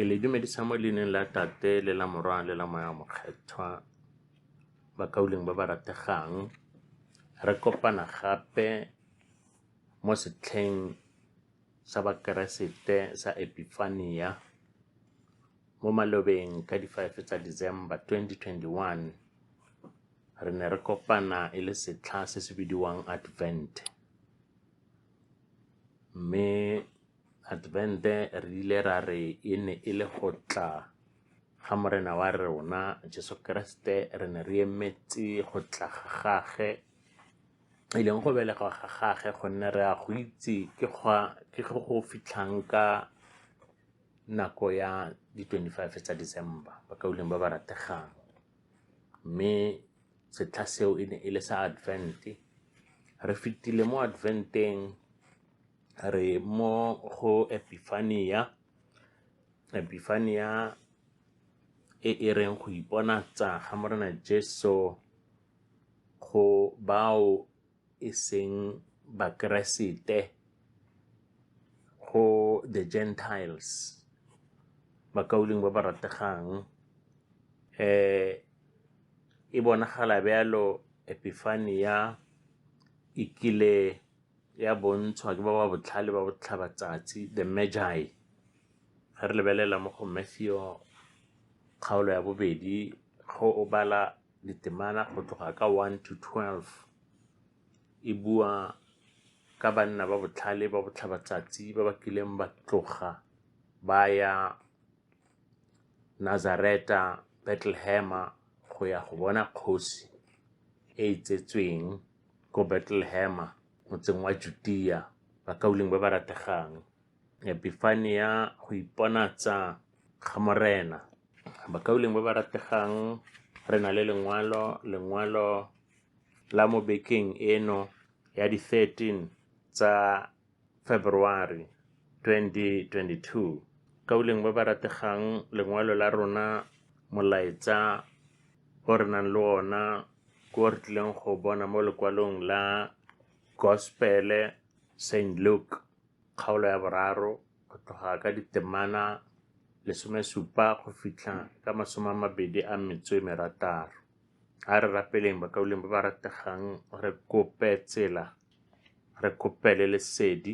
ke le dumedisa mo leineng la tate le la morwana le la moya mokgethwa bakauleng ba ba rategang re kopana gape mo setlheng sa Bakeresete sa Epifania mo malobeng ka di 5 tsa December 2021 re ne re kopana e le setlha se se bidiwang Advent mme Advent re ile ra re e ne e le go tla ga morena wa rona Jesu Keresete re ne re emetse go tla ga gage e leng go belega ga gage gonne re a go itse ke go go fitlhang ka nako ya di-twenty-five tsa December bakaulengwe ba ba rategang mme setlha seo e ne e le sa Advent re fetile mo Adventeng re mo go Epiphania Epiphania e e reng go iponatsa ga Morena Jesu go bao e seng Bakeresete, go the Gentiles, bakaulengwe ba ba rategang. Eh, e bonagala bjalo Epifania e kile ya bontshwa ke ba ba botlhale ba botlhaba tsatsi, the Magi. Ga re lebelela mo go Matthew kgaolo ya bobedi, go o bala Ditemana go tloga ka 1 to 12 e bua ka banna ba botlhale ba botlhabatsatsi ba ba kileng ba tloga ba ya Nazareta, Betlehema go ya go bona kgosi e e tsetsweng ko Betlehema motseng wa Judia, bakaulengwe ba ba rategang. Epifania go iponatsa ga Morena. bakauleng ba ba rategang re na le lengwalo lengwalo la mo bekeng eno ya di 13 tsa february 2022 kauleng ba ba rategang lengwalo la rona molaetsa o re nang le ona ko re tlileng go bona mo lekwalong la gospele st luke Kgaolo ya boraro go tloga ka ditemana lesomesupa go fitlha ka masome a mabedi a metso e merataro. A re rapeleng bakauleng ba ba rategang re kope tsela, re kopele lesedi,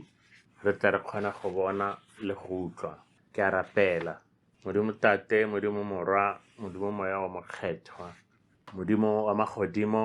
re tla re kgona go bona le go utlwa. Ke a rapela. Modimo Tate, Modimo Morwa, Modimo Moya wa Mokgethwa, Modimo wa magodimo,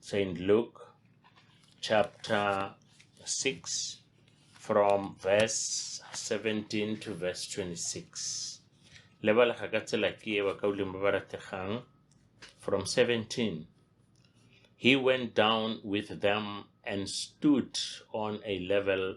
St. Luke chapter 6 from verse 17 to verse 26. Lebalega ka tsela ke e ba ka uleng ba ba rategang from 17. He went down with them and stood on a level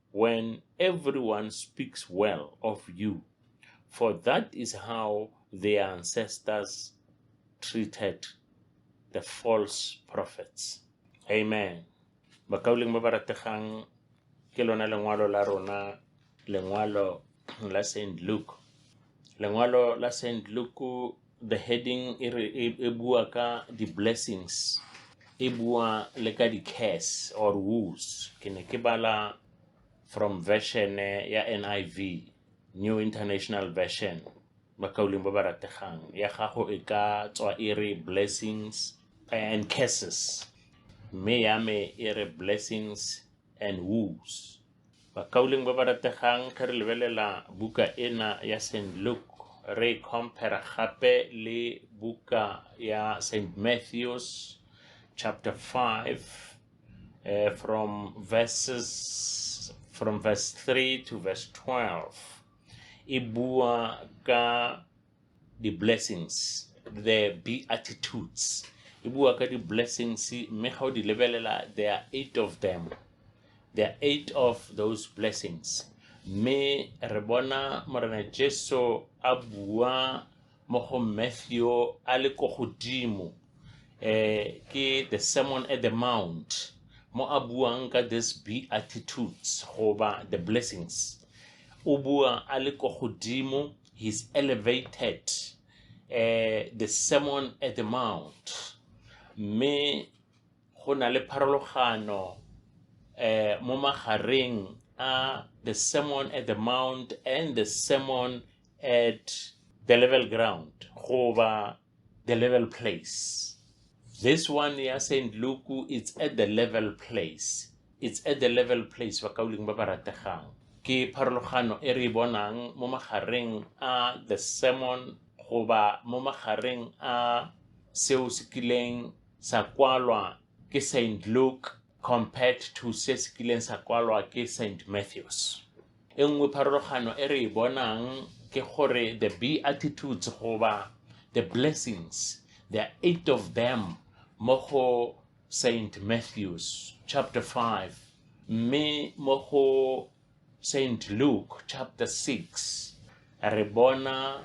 when everyone speaks well of you, for that is how their ancestors treated the false prophets. Amen. Bakauleng ba ba rategang ke lona lengwalo la rona lengwalo la St. Luke. Lengwalo la St. Luke the heading e re e e bua ka di blessings e bua le ka di curse or woes ke ne ke bala from version eh, ya NIV New International Version bakauleng ba ba rategang ya gago e ka tswa e re blessings and curses mme ya me e re blessings and woes Bakauleng ba ba rategang ge re lebelela buka ena ya St. Luke re e compare gape le buka ya St. Matthews chapter 5 eh, from verses from verse 3 to verse 12 e bua ka di-blessings the beatitudes e bua ka di-blessings mme ga o di lebelela there are eight of them there are eight of those blessings mme re bona morena jesu a bua mo go matthew a le ko godimo eh ke the sermon at the mount mo a buang ka this beatitudes goba the blessings o bua a le ko godimo He's elevated eh, the sermon at the mount mme go na le pharologano eh, mo magareng a the sermon at the mount and the sermon at the level ground goba the level place this one ya saint luke it's at the level place it's at the level place bakauleng ba ba rategang ke pharologano e re e bonang mo magareng a the sermon goba mo magareng a seo se kileng sa kwalwa ke saint luke compared to se se kileng sa kwalwa ke St. Matthews. E nngwe pharologano e re e bonang ke gore the beatitudes goba the blessings there are eight of them mo go St. Matthews chapter 5 mme mo go St. Luke chapter 6 re bona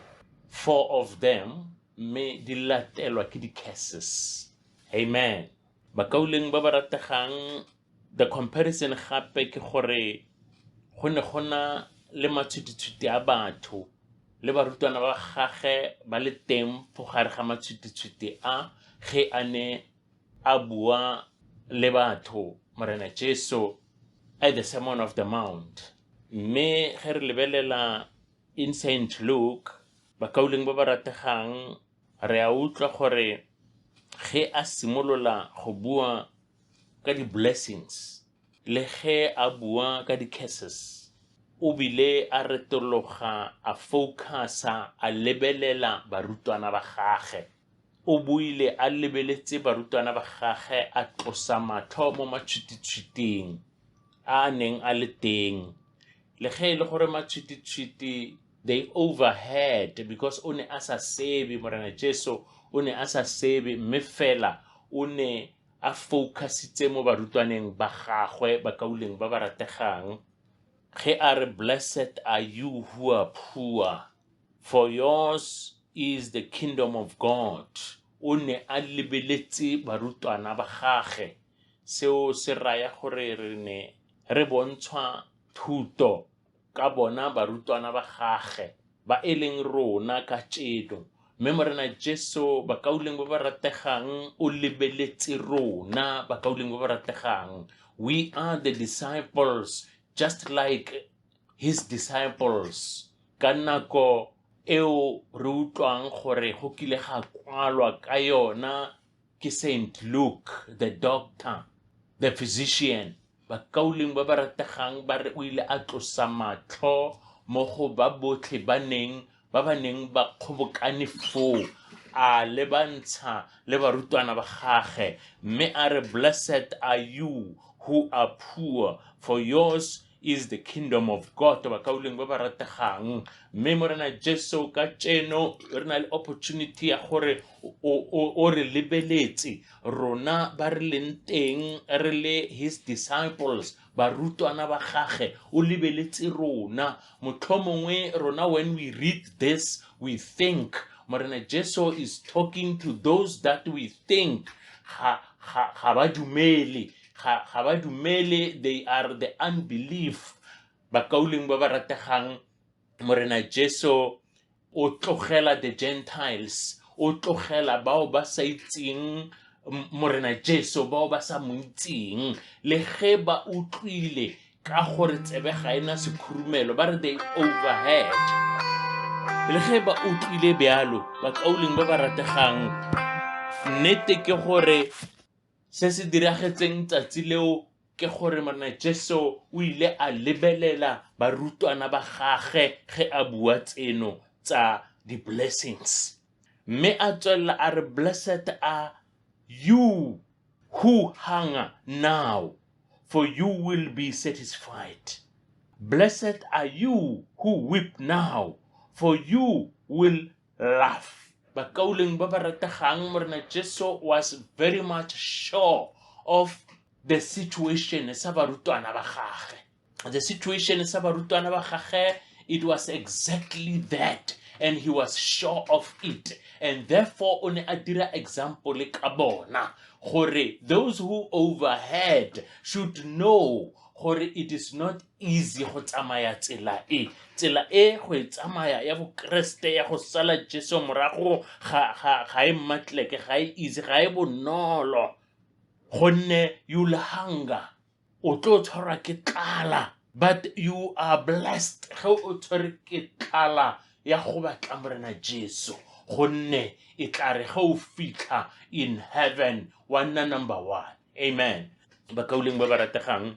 four of them mme di latelwa ke di-curses amen Bakauleng ba ba rategang, The Comparison gape ke gore go ne go na le matshwititshwiti a batho le barutwana ba gage ba le teng fo gare ga matshwititshwiti a ge a ne a bua le batho Morena Jesu at the Sermon of the Mount. Mme ge re lebelela in St. Luke, bakauleng ba ba rategang Re a utlwa gore ge a simolola go bua ka di-blessings le ge a bua ka di-curses, o bile a retologa a focus-a a lebelela barutwana ba gage. O buile a lebeletse barutwana ba gage a tlosa matlho mo matshwititshwiting a a neng a le teng. Le ge e le gore matshwititshwiti they overheard because o ne a sa sebe morena jesu o ne a sa sebe mme fela o ne a focusitse mo barutwaneng ba gagwe bakauleng ba ba rategang ge a re blessed are you who are poor for yours is the kingdom of god o ne a lebeletse barutwana ba gage seo se raya gore re ne re bontshwa thuto ka bona barutwana ba gage ba e leng rona ka tšeno mme morena jesu bakauleng ba ba rategang o lebeletse rona bakauleng ba ba rategang we are the disciples just like his disciples ka nako eo re utlwang gore go kile ga kwalwa ka yona ke Saint Luke the doctor the physician bakauleng ba ba rategang ba re o ile a tlosa matlho mo go ba botlhe ba neng ba ba neng ba kgobokane foo a lebantsha le barutwana ba gage mme a re blessed are you who are poor for yours is the kingdom of god ba ka uleng ba ba rategang mme morena jesu ka tseno re na le opportunity ya gore o- o o re lebeletse rona ba re leng teng re le his disciples barutwana ba gage o lebeletse rona motlho mongwe rona when we read this we think morena jesu is talking to those that we think ga ga- ga ba dumele ga ga ba dumele they are the unbelief bakauleng ba ba rategang morena jesu o tlogela the gentiles o tlogela bao ba sa itseng M- morena jesu bao ba sa mo itseng le ge ba utlwile ka gore tsebe ga e na sekhurumelo ba re they overhead le ge ba utlwile bjalo bakauleng ba ba rategang nnete ke gore Se se diragetseng tsatsi leo ke gore Morena Jesu o ile a lebelela barutwana ba gage ge a bua tseno tsa di-blessings. Mme a tswelela a re, Blessed are you who hunger now, for you will be satisfied. Blessed are you who weep now, for you will love bakauleng ba ba rategang morena jesu was very much sure of the situation sa barutwana ba gage the situation sa barutwana ba gage it was exactly that and he was sure of it and therefore o ne a dira example ka bona gore those who overheard should know gore it is not easy go tsamaya tsela e tsela e go e tsamaya ya bokeresete ya go sala jesu morago ga ga ga e mmatleke ga e easy ga e bonolo gonne you'll hunger o tlo tshwarwa ke tlala but you are blessed ge o tshwere ke tlala ya go batla morena jesu gonne e tla re ge o fitlha in heaven wa nna number one amen bakauleng ba ba rategang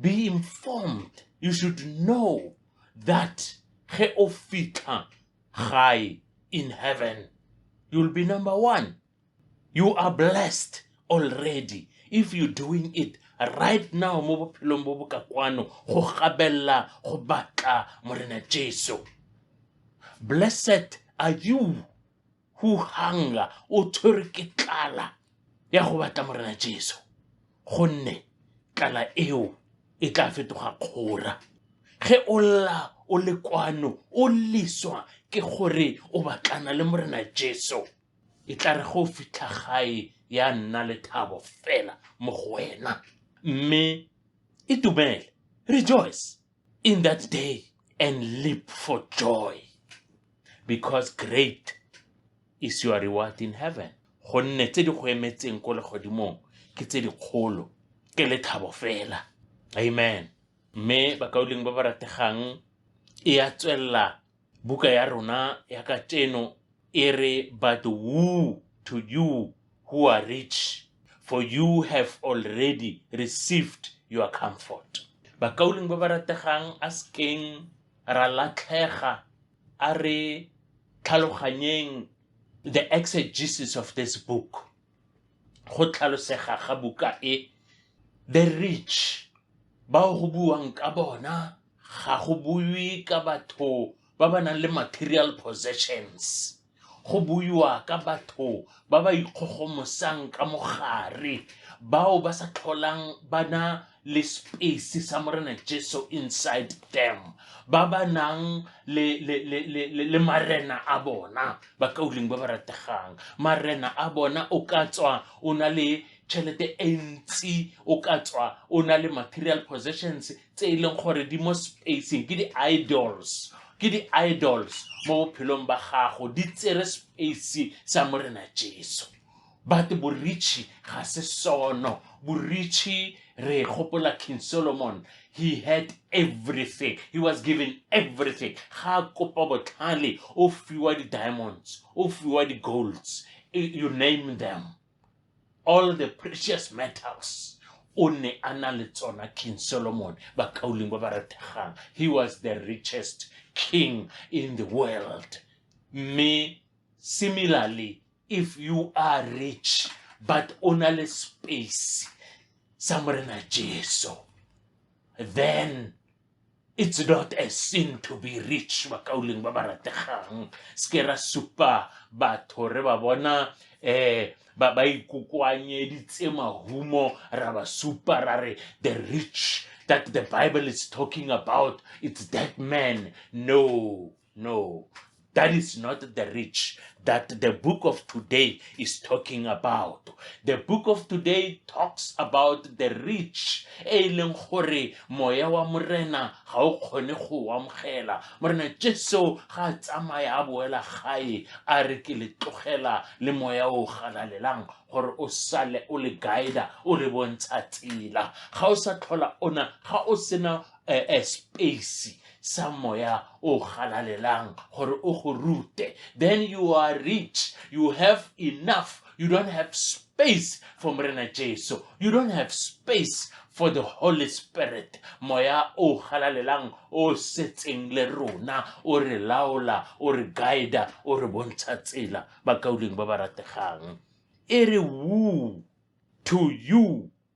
be informed you should know that ge o fitlha gae in heaven you'll be number one you are blessed already if you're doing it right now mo bophelong bo bo ka kwano go gabelela go batla morena jesu blessed are you who hunger o tshwere ke tlala ya go batla morena jesu gonne tlala eo e tla fetoga kgora ge o lla o le kwano o liswa ke gore o batlana le morena jesu e tla re go fitlha gae ya nna le thabo fela mo go wena mme itumele rejoice in that day and leap for joy because great is your reward in heaven gonne tse di go emetseng ko legodimong ke tse dikgolo ke lethabo fela amen mme bakauleng ba ba rategang e ya tswelela Buka ya rona ya kajeno e re But woe to you who are rich, for you have already received your comfort. Bakauleng ba ba rategang a sekeng ra latlhega a re tlhaloganyeng the exegesis of this book. go tlhalosega ga buka e the rich bao go buwang ka bona ga go buiwe ka batho ba ba nang le material possessions go buiwa ka batho ba ba ikgogomosang ka mogare bao ba sa tlholang bana le space sa morena jesu inside them ba ba nang le, le, le, le, le, le marena a bona ba kauleng ba ba rategang marena a bona o ka tswa o na le tšhelete e ntsi o ka tswa o na le material possessions tse e leng gore di mo spacing ke di-idols ke di-idols mo bophelong ba gago di tsere space sa morena jesu but boritšhi ga se sono boritšhi re gopola king solomon he had everything he was given everything ga kopa botlhale o fiwa di-diamonds o fiwa di-golds you name them all the precious metals o ne a na le tsona king solomon bakauleng ba ba rategang he was the richest king in the world mme similarly if you are rich but o na le space sa morena jesu then it's not a sin to be rich bakauleng ba ba rategang seke ra supa batho re ba bona um ba ba ikokoanyeditse mahumo ra ba supa ra re the rich that the bible is talking about it's that man no No, that is not the rich that the book of today is talking about. The book of today talks about the rich. E leng gore moya wa morena ga o kgone go amogela. Morena Jesu ga a tsamaya a boela gae a re ke le tlogela le moya o galalelang gore o sale o le guide o le bontsha tsela. Ga o sa tlhola ona ga o sena eh, eh, space sa moya o galalelang gore o go rute then you are rich you have enough you don't have space for morena jesu you don't have space for the holy spirit moya o galalelang o setseng le rona o re laola o re guida o re bontsha tsela bakauleng ba ba rategang e re woo to you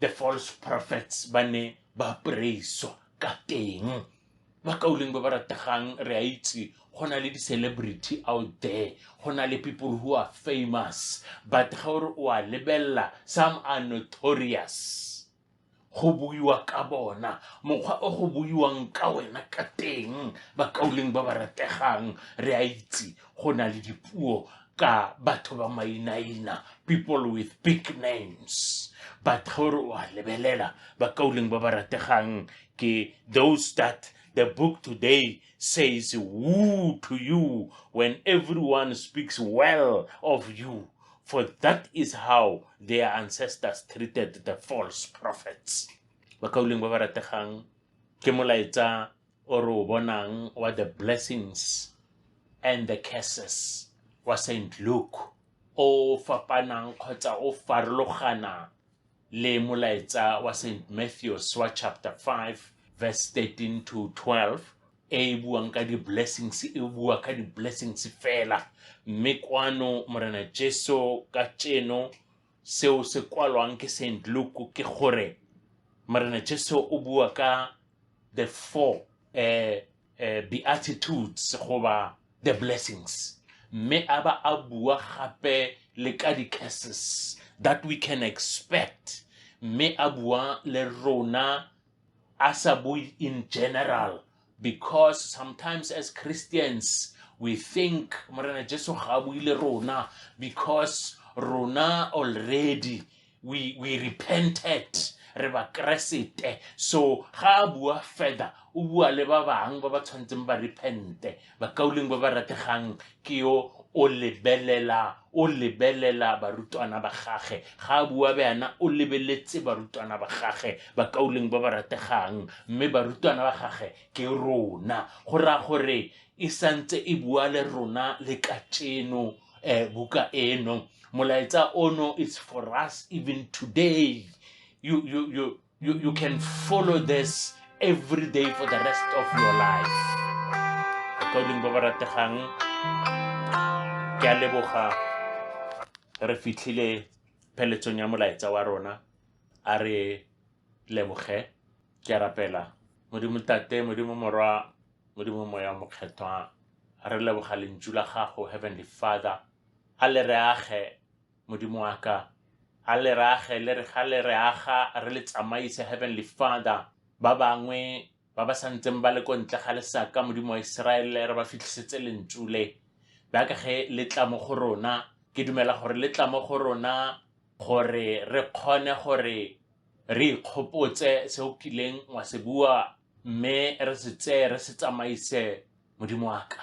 the false prophets ba ne ba preiswa ka teng ba kauleng ba ba rategang re a itse go na le di-celebrity out there go na le people who are famous but ga ore o a lebelela some are notorious go buiwa ka bona mokgwa o go buiwang ka wena ka teng bakauleng ba ba rategang re a itse go na le dipuo ka batho ba mainaina people with big names but gore wa lebelela bakauleng ba ba rategang ke those that the book today says woo to you when everyone speaks well of you for that is how their ancestors treated the false prophets bakauleng ba ba rategang ke molaetsa o re o bonang wa the blessings and the curses wa St. Luke o fapanang kgotsa o farologana le molaetsa wa St. Matthews wa chapter 5 verse 13 to 12 e e buang ka di-blessings e bua ka di-blessings fela mme kwano morena jesu ka tšeno Seo se kwalwang ke Saint Luke ke gore Morena Jesu o bua ka the four eh, eh, beatitudes goba the blessings mme a ba a bua gape le ka di-curses that we can expect mme a bua le rona a sa bue in general because sometimes as christians we think morena jesu ga a buile rona because rona already we, we repented re bakeresete so ga a bua further o bua le ba bangwe ba ba tshwanetseng ba repente bakauleng ba ba rategang ke yo o lebelela o lebelela barutwana ba gage ga a bua bjana o lebeletse barutwana ba gage bakauleng ba ba rategang mme barutwana ba gage ke rona go raya gore e santse e bua le rona le kacheno eh, buka eno molaetsa ono it's for us even today you, you, you, You, you can follow this every day for the rest of your life. According ba ba rategang, ke a leboga re fitlhile pheletsong ya molaetsa wa rona a re leboge ke rapela modimo tate modimo morwa modimo moya mokgethwa re leboga lentšu la gago heavenly father a le re age modimo wa ka a le re age le re ga le re aga re le tsamaise heavenly father ba bangwe ba ba sa ntseng ba le ko ntle ga lesaka modimo wa iseraele re ba fitlhisetse lentsu le baka ge le tla mo go rona ke dumela gore le tla mo go rona gore re kgone gore re ikgopotse se o kileng wa se bua mme re se tseye re se tsamaise modimo wa ka